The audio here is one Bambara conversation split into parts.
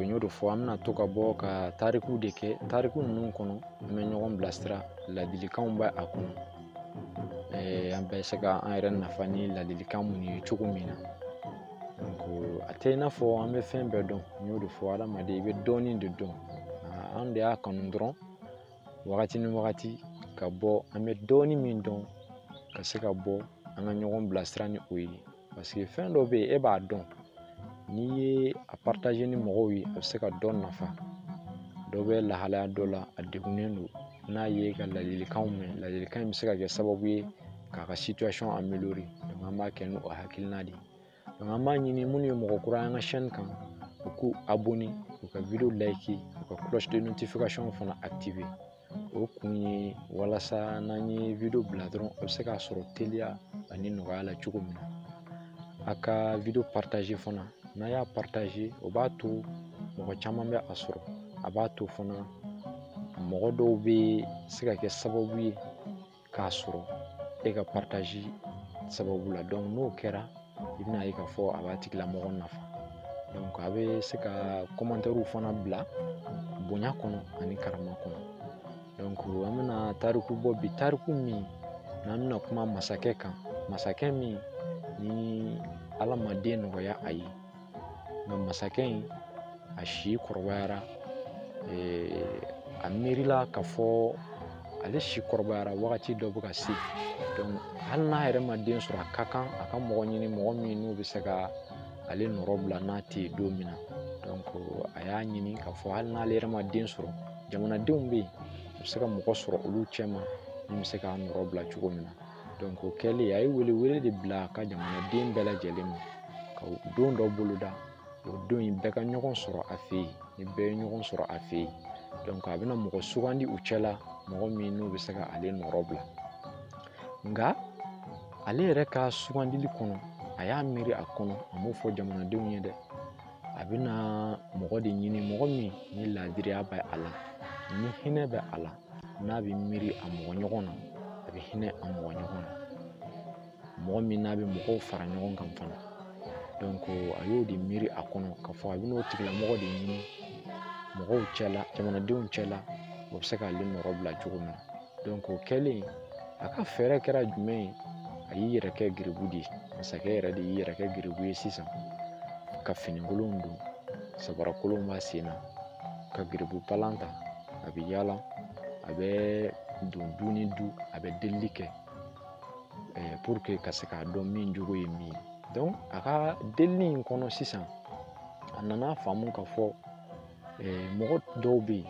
n y'o de fɔ an bɛna to ka bɔ ka tariku de kɛ tariku ninnu kɔnɔ an bɛ ɲɔgɔn bilasira ladilikanw bɛ a kɔnɔ an bɛ se ka an yɛrɛ nafa ni ladilikan minnu ye cogo min na a tɛ i n'a fɔ an bɛ fɛn bɛɛ dɔn n y'o de fɔ hadamaden i bɛ dɔɔnin de dɔn an de y'a kanu dɔrɔn wagati ni wagati ka bɔ an bɛ dɔɔnin min dɔn ka se ka bɔ an ka ɲɔgɔn bilasira ni o ye parce que fɛn dɔ bɛ yen e b'a dɔn n'i ye a partager ni mɔgɔw ye a bɛ se ka dɔ nafa dɔ bɛ lahalaya dɔ la a degunnen don n'a ye ka ladilikanw mɛn ladilikan in bɛ se ka kɛ sababu ye k'a ka situation améliorer donc an b'a kɛ n'o hakilina de ye donc an b'a ɲini minnu ye mɔgɔ kura ye an ka chaîne kan u k'u abonner u ka video liker u ka cloche de notification fana activer o kun ye walasa n'an ye video bila dɔrɔn a bɛ se k'a sɔrɔ teliya ani nɔgɔya la cogo min na a ka video partager fana n'a y'a partager o b'a to mɔgɔ caman bɛ a sɔrɔ a b'a to fana mɔgɔ dɔw bɛ se ka kɛ sababu ye k'a sɔrɔ e ka partage sababu la donc n'o kɛra i bɛna ye k'a fɔ a b'a tigilamɔgɔ nafa donc a bɛ se ka commentairew fana bila bonya kɔnɔ ani karama kɔnɔ donc an bɛna tariku bɔ bi tariku min n'an bɛna kuma masakɛ kan masakɛ min ni ala ma den nɔgɔya a ye nka masakɛ in a si kɔrɔbayara a miirila k'a fɔ ale si kɔrɔbayara wagati dɔ bɛ ka se donc hali n'a yɛrɛ ma den sɔrɔ a ka kan a ka mɔgɔ ɲini mɔgɔ min n'u bɛ se ka ale nɔrɔ bila n'a tɛ yen don min na donc a y'a ɲini k'a fɔ hali n'ale yɛrɛ ma den sɔrɔ jamanadenw bɛ yen u bɛ se ka mɔgɔ sɔrɔ olu cɛ ma min bɛ se k'a nɔrɔ bila cogo min na donc o kɛlen a ye welewele de bila a ka jamanaden bɛɛ lajɛlen ma ka don dɔ boloda o don in bɛɛ ka ɲɔgɔn sɔrɔ a fɛ yen ni bɛɛ ye ɲɔgɔn sɔrɔ a fɛ yen donc a bɛna mɔgɔ sugandi u cɛla mɔgɔ min n'o bɛ se ka ale nɔrɔ bila nka ale yɛrɛ ka sugandili kɔnɔ a y'a miiri a kɔnɔ a m'o fɔ jamanadenw ye dɛ a bɛna mɔgɔ de ɲini mɔgɔ min ni laadiriya bɛ a la ni hinɛ bɛ a la n'a bɛ miiri a mɔgɔ ɲɔgɔn na a bɛ hinɛ a mɔgɔ ɲɔgɔn na mɔgɔ min n'a bɛ mɔgɔw fara ɲɔgɔn kan fana a y'o de miiri a kɔnɔ k'a fɔ a bɛn'o tigilamɔgɔ de ɲini mɔgɔw cɛla jamanadenw cɛla o bɛ se k'ale nɔrɔ bila cogo min na o kɛlen a ka fɛɛrɛ kɛra jumɛn ye a y'i yɛrɛ kɛ garibu de ye masakɛ yɛrɛ de y'i yɛrɛ kɛ garibu ye sisan ka finikolon don sabarakolon b'a sen na ka garibu palan ta a bɛ yaala a bɛ don du ni du a bɛ delili kɛ eh, pour que ka se k'a dɔn min jogo ye min ye donc a ka delili in kɔnɔ sisan a nana faamu k'a fɔ eh, mɔgɔ dɔw bɛ yen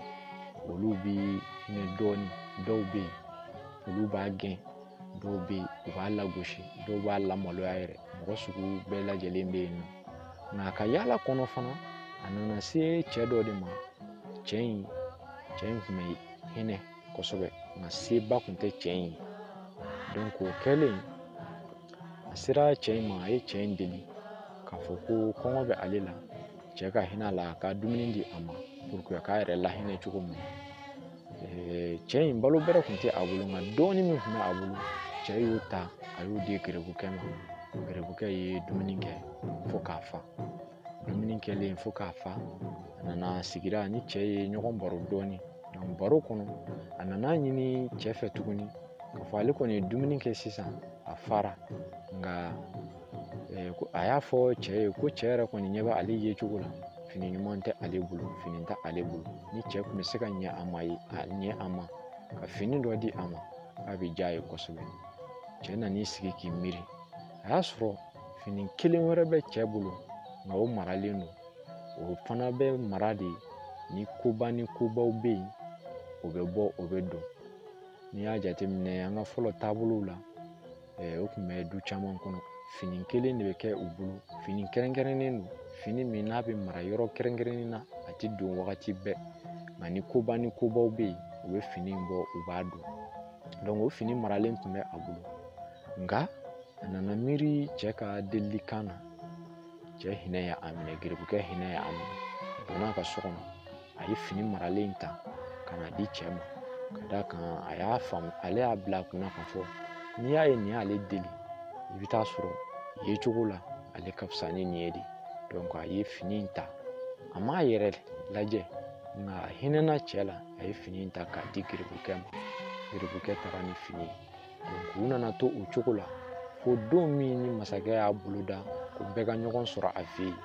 olu bɛ hinɛ dɔɔnin dɔw bɛ yen olu b'a gɛn dɔw bɛ yen u b'a lagosi dɔw b'a lamaloya yɛrɛ mɔgɔ sugu bɛɛ lajɛlen bɛ yen nɔ nka a ka yaala kɔnɔ fana a nana se cɛ dɔ de ma cɛ in cɛ in tun bɛ hinɛ kosɛbɛ nka seba tun tɛ cɛ in ye donc o kɛlen a sera cɛ in ma a ye cɛ in deli k'a fɔ ko kɔngɔ bɛ ale la cɛ ka hinɛ a la a ka dumuni di a ma pour que a k'a yɛrɛ lahinɛ cogo min na cɛ in balo bɛrɛ tun tɛ a bolo nka dɔɔnin min tun bɛ a bolo cɛ y'o ta a y'o di geribukɛ ma geribukɛ ye dumuni kɛ fo k'a fa dumuni kɛlen fo k'a fa a nana sigi a ni cɛ ye ɲɔgɔn baro dɔɔnin donc baro kɔnɔ a nan'a ɲini cɛ fɛ tuguni k'a fɔ ale kɔni ye dumuni kɛ sisan a fara nka a y'a fɔ cɛ ye ko cɛ yɛrɛ kɔni ɲɛ bɛ ale yecogo la fini ɲuman tɛ ale bolo fini tɛ ale bolo ni cɛ tun bɛ se ka ɲɛ a ma ka fini dɔ di a ma k'a bɛ diya a ye kosɛbɛ cɛ nan'i sigi k'i miiri a y'a sɔrɔ fini kelen wɛrɛ bɛ cɛ bolo nka o maralen don o fana bɛ mara de ni koba ni kobaw bɛ yen o bɛ bɔ o bɛ don n'i y'a jateminɛ an ka fɔlɔ taabolow la o tun bɛ du caman kɔnɔ fini kelen de bɛ kɛ u bolo fini kɛrɛnkɛrɛnnen don fini min n'a bɛ mara yɔrɔ kɛrɛnkɛrɛnnen na a tɛ don wagati bɛɛ nka ni koba ni kobaw bɛ yen u bɛ fini in bɔ u b'a don donc o fini maralen tun bɛ a bolo nka a nana miiri cɛ ka delilikan na cɛ hinɛ y'a minɛ geribukɛ hinɛ y'a minɛ a donna a ka so kɔnɔ a ye fini maralen in ta ka n'a di cɛ ma ka d'a kan a y'a faamu ale y'a bila a kunna k'a fɔ n'i y'a ye nin y'ale deli i bɛ t'a sɔrɔ yecogo la ale ka fisa ni nin ye de donc a ye fini in ta a m'a yɛrɛ lajɛ nka a hinɛna cɛ la a ye fini in ta k'a di geribukɛ ma geribukɛ taara ni fini ye u nana to o cogo la fo don min ni masakɛ y'a boloda ko bɛɛ ka ɲɔgɔn sɔrɔ a fɛ yen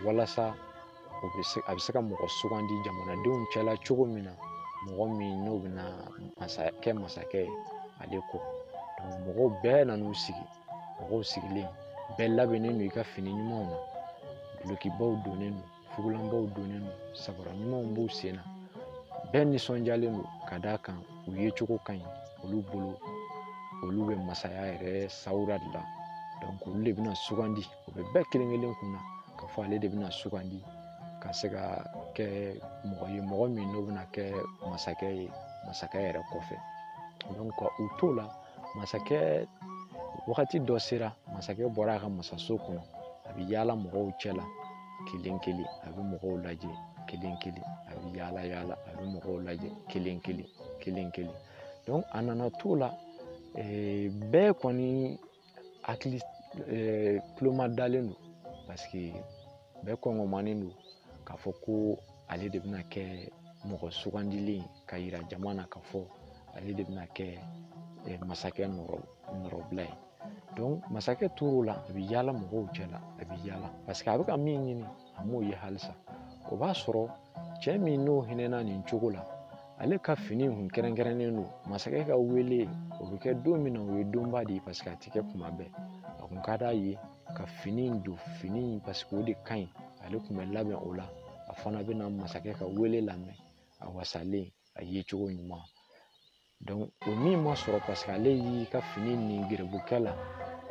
walasa a bɛ se ka mɔgɔ sugandi jamanadenw cɛla cogo min na mɔgɔ min n'o bɛna kɛ masakɛ ye ale kɔ donc mɔgɔw bɛɛ nan'u sigi mɔgɔw sigilen bɛɛ labɛnnen don i ka fini ɲumanw na dulokibaw donnen don fugulanbaw donnen don sabara ɲumanw b'u sen na bɛɛ nisɔndiyalen don ka d'a kan u yecogo ka ɲi olu bolo olu bɛ masaya yɛrɛ sawura de la olu de bɛna sugandi o bɛ bɛɛ kelen kelen kun na k'a fɔ ale de bɛna sugandi ka se ka kɛ mɔgɔ ye mɔgɔ min n'o bɛna kɛ masakɛ ye masakɛ yɛrɛ kɔfɛ donc u t'o la masakɛ wagati dɔ sera masakɛ bɔra a ka masaso kɔnɔ a bɛ yaala mɔgɔw cɛ la kelen kelen a bɛ mɔgɔw lajɛ kelen kelen a bɛ yaala yaala a bɛ mɔgɔw lajɛ kelen kelen kelen kelen donc a nana t'o la eh, bɛɛ kɔni hakili eh, tuloma dalen don parce que bɛɛ kɔngɔmanen don k'a fɔ ko ale de bɛna kɛ mɔgɔ sugandilen ye ka yira jama na k'a fɔ ale de bɛna kɛ eh, masakɛ nɔrɔ nɔrɔbila ye donc masakɛ tor'o la a bɛ yaala mɔgɔw cɛ la a bɛ yaala parce que a bɛ ka min ɲini a m'o ye halisa o b'a sɔrɔ cɛ min n'o hinɛna nin cogo la ale ka fini kun kɛrɛnkɛrɛnnen don masakɛ ka wele o bɛ kɛ don min na o ye donba de ye parce que a tɛ kɛ kuma bɛɛ a kun ka d'a ye ka fini in don fini in parce que o de ka ɲi ale kun bɛ labɛn o la a fana bɛna masakɛ ka wele lamɛn a wasalen a yecogo ɲuman o min ma sɔrɔ paseke ale y'i ka fini ni gerebukɛ la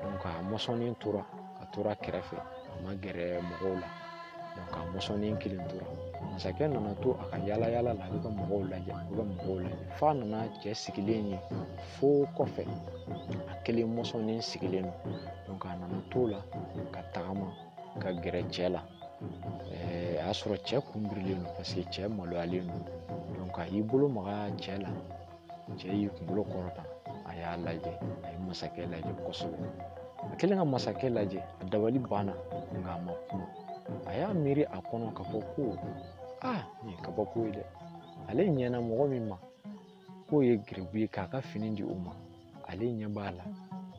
donc a mɔsɔnnen tora a tora kɛrɛfɛ a ma gɛrɛ mɔgɔw la donc a mɔsɔnnen kelen tora masakɛ nana to a ka yaala yaala la a bɛ ka mɔgɔw lajɛ a bɛ ka mɔgɔw lajɛ f'a nana cɛ sigilen ye fo kɔfɛ a kelen mɔsɔnnen sigilen don donc a nana to la ka tagama ka gɛrɛ cɛ la ɛɛ a y'a sɔrɔ cɛ kunbirilen don paseke cɛ maloyalen don donc a y'i bolo maga cɛ la cɛ y'i kunkolo kɔrɔta a y'a lajɛ a ye masakɛ lajɛ kosɛbɛ a kɛlen ka masakɛ lajɛ a dabali banna nka a ma kuma a y'a miiri a kɔnɔ k'a fɔ ko aa nin ye kabako ye dɛ ale ɲɛna mɔgɔ min ma k'o ye gerebu ye k'a ka fini di o ma ale ɲɛ b'a la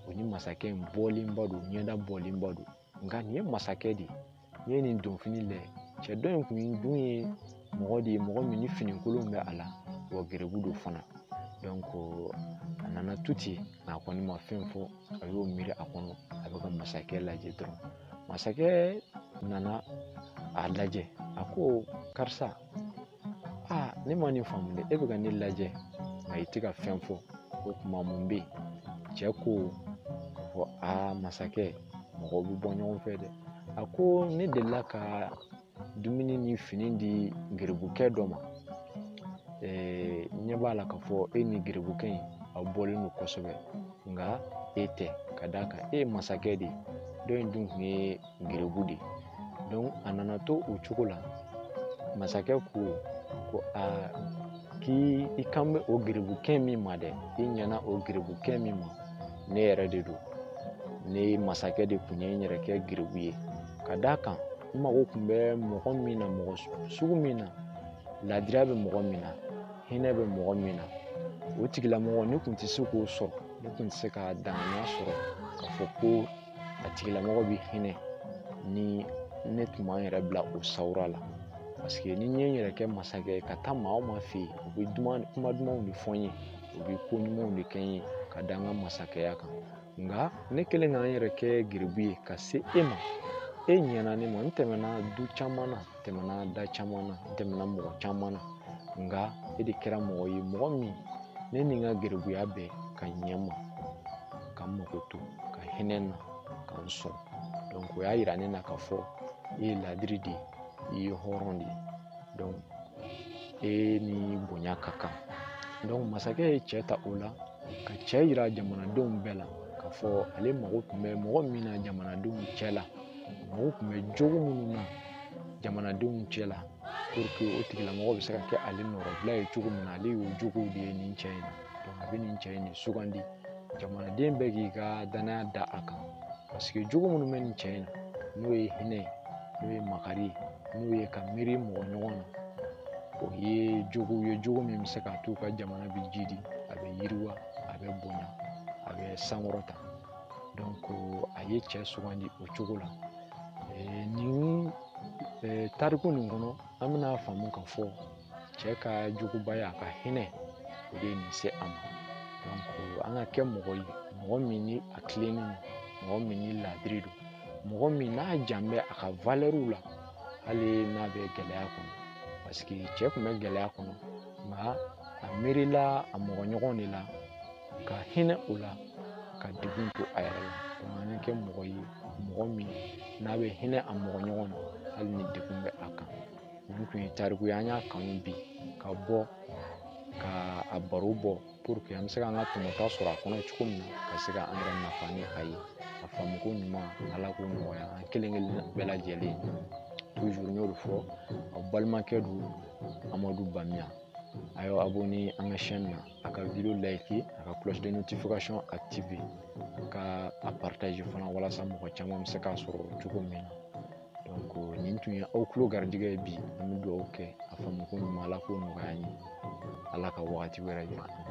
o ni masakɛ in bɔlenba don ɲɛda bɔlenba don nka nin ye masakɛ de ye n'i ye nin donfini lajɛ cɛ dɔ in kun dun ye mɔgɔ de ye mɔgɔ min ni finikolon bɛ a la wa gerebu don fana donc a nana to ten nka a kɔni ma fɛn fɔ a y'o miiri a kɔnɔ a bɛ ka masakɛ lajɛ dɔrɔn masakɛ nana a lajɛ a ko karisa aa ne ma nin faamu dɛ e bɛ ka ne lajɛ nka i tɛ ka fɛn fɔ o tuma mun bɛ yen cɛ ko k'a fɔ aa masakɛ mɔgɔw bɛ bɔ ɲɔgɔn fɛ dɛ a ko ne delila ka dumuni ni fini di geribukɛ dɔ ma ne ɲɛ b'a la k'a fɔ e ni geribukɛ in aw bɔlen don kosɛbɛ nka e tɛ ka d'a kan e ye masakɛ de ye dɔ in dun tun ye gerebu de donc a nana to o cogo la masakɛ ko ko aa k'i i kan bɛ o gerebukɛ min ma dɛ i ɲɛna o gerebukɛ min ma ne yɛrɛ de don ne masakɛ de kun ye n yɛrɛ kɛ gerebu ye ka d'a kan n mago kun bɛ mɔgɔ min na mɔgɔ sugu min na ladiriya bɛ mɔgɔ min na hinɛ bɛ mɔgɔ min na o tigilamɔgɔ ne kun tɛ se k'o sɔrɔ ne kun tɛ se ka danganiya sɔrɔ k'a fɔ ko a tigilamɔgɔ bɛ hinɛ ni ne tun ma n yɛrɛ bila o sawura la paseke ni n ye n yɛrɛ kɛ masakɛ ye ka taa maa o maa fɛ yen u bɛ kuma dumanw de fɔ n ye u bɛ ko ɲumanw de kɛ n ye ka da n ka masakɛya kan nka ne kɛlen ka n yɛrɛ kɛ gerebu ye ka se e ma e ɲɛna ne ma n tɛmɛna du caman na tɛmɛna da caman na n tɛmɛna mɔgɔ caman na nka e de kɛra mɔgɔ ye mɔgɔ min ne ni n ka gerebuya bɛɛ ka ɲɛ n ma ka n mago to ka hinɛ n na ka n sɔn o y'a yira ne na k'a fɔ e ye ladiri de ye i ye hɔrɔn de ye e ni bonya ka kan masakɛ ye cɛ ta o la ka cɛ yira jamanadenw bɛɛ la k'a fɔ ale mago tun bɛ mɔgɔ min na jamanadenw cɛ la mago tun bɛ jogo minnu na jamanadenw cɛ la puruke o tigilamɔgɔ bɛ se ka kɛ ale nɔrɔbila ye cogo min na ale y'o jogow de ye nin cɛ in na a bɛ nin cɛ in de sugandi jamanaden bɛɛ k'i ka danaya da a kan paseke jogo minnu bɛ nin cɛ in na n'o ye hinɛ ye n'o ye makari ye n'o ye ka miiri mɔgɔ ɲɔgɔn na o ye jogo ye jogo min bɛ se k'a to u ka jamana bɛ jidi a bɛ yiriwa a bɛ bonya a bɛ sankɔrɔta a ye cɛ sugandi o cogo la nin tariku nin kɔnɔ an bɛna faamu k'a fɔ cɛ ka jogobaya a ka hinɛ o de ye nin se a ma donc an ka kɛ mɔgɔ ye mɔgɔ min ni a tilennen don mɔgɔ min ni laadiri don mɔgɔ min n'a jan bɛ a ka valɛriw la hali n'a bɛ gɛlɛya kɔnɔ paseke cɛ kun bɛ gɛlɛya kɔnɔ nka a miirila a mɔgɔ ɲɔgɔn de la ka hinɛ o la ka degun to a yɛrɛ la an ka kɛ mɔgɔ ye mɔgɔ min n'a bɛ hinɛ a mɔgɔ ɲɔgɔn na hali ni degun bɛ a kan nin tun ye tariku ye an y'a kanu bi ka bɔ ka a baro bɔ puruke an bɛ se ka an ka tɔmɔta sɔrɔ a kɔnɔ cogo min na ka se ka an yɛrɛ nafa ni a ye a faamuko ɲuman ala k'o nɔgɔya an kelen kelen bɛɛ lajɛlen tuzuru n y'o de fɔ aw balimakɛ don amadu bamiya a y'aw abonne an ka chaîne na a ka video layiki a ka cloche de notification active ka a partage fana walasa mɔgɔ caman bɛ se k'a sɔrɔ cogo min na donc nin tun ye aw tulo garijɛgɛ ye bi an bɛ dugawu kɛ a faamuko ɲuman ala k'o nɔgɔya an ye ala ka wagati wɛrɛ jira an na